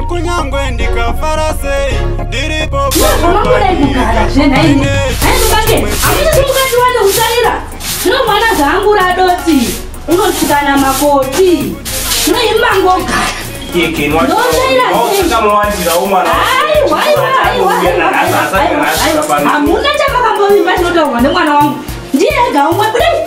kunyangwe ndikafara sei ndiripo zvinomwana zvangu radoti unotukana makoti zvinoimba ngogara hamuna chamakamboimba chinotaurwa nemwana wangu ndiye ega umwe kudai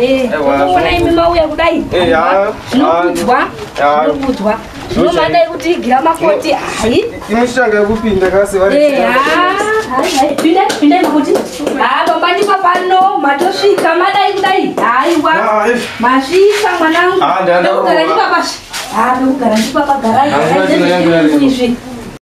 Eh, ona imi mauya kudai eh, zvinokudzwa zvinokudzwa zvinomada kuti igira makoti hai imushanga kupinda kasi vari eh, pinda pinda kuti ha baba ndipa pano matosvika madai kudai haiwa masvika mwanangu ndokugara ndipapasvi ha ndokugara ndipapagarai izvi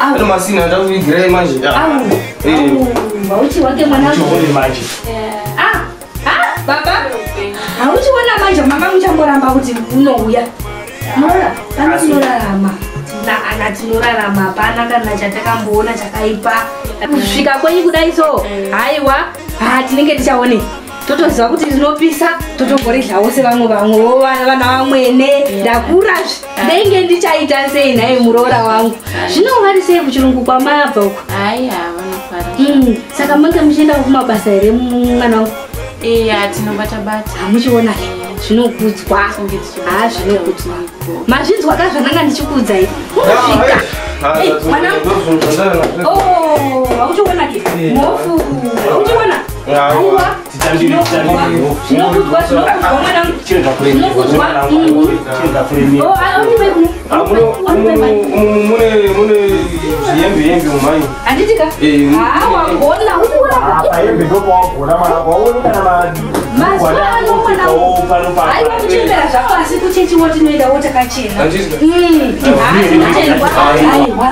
Ano masina ndakuvigirai manje. Hauchi wake mwana. Uchione manje. Ah. Ah, baba. Hauchiona manje mama muchamboramba kuti unouya. Mora, kana tinorarama. Na ana tinorarama hapana kana chatakamboona chakaipa. Kusvika kwenyu kudai so. Haiwa. Ah, tinenge tichaone. Totoziva kuti rinopisa, totomboridlawo sevamwe vamwe, vana vamwene, ndakura zvi. ndenge ndichaita sei nhai muroora wangu zvino vari sei kuchirungu kwamabva uko hayi havanofara mm, saka mange muchienda kumabasa here mwana wangu ee hatinobata bata hamuchiona zvinokudzwa haa zvinokudzwa mazvinzwa ka zvandanga ndichikuudzai unosvika mwanauchiona ke mofu uchiona aiwa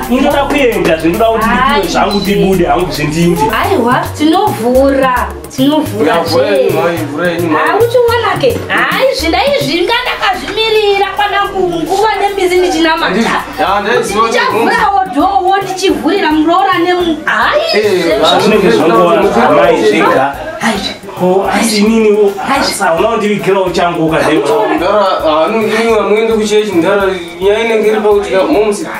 zvindoda kuenda zvindoda kuti ndipiwe zvangu tibude hangu zvindinzi tinovhura tinovhura uchiona ke hayi zvindaizvi nga ndakazvimirira kwana kunguva nembizi ndichinamataichavhurawo dhowo ndichivhurira muroora nemuhaizvinenge eh, zvongoona amai zvega asininiasaunondivigirawuchanguka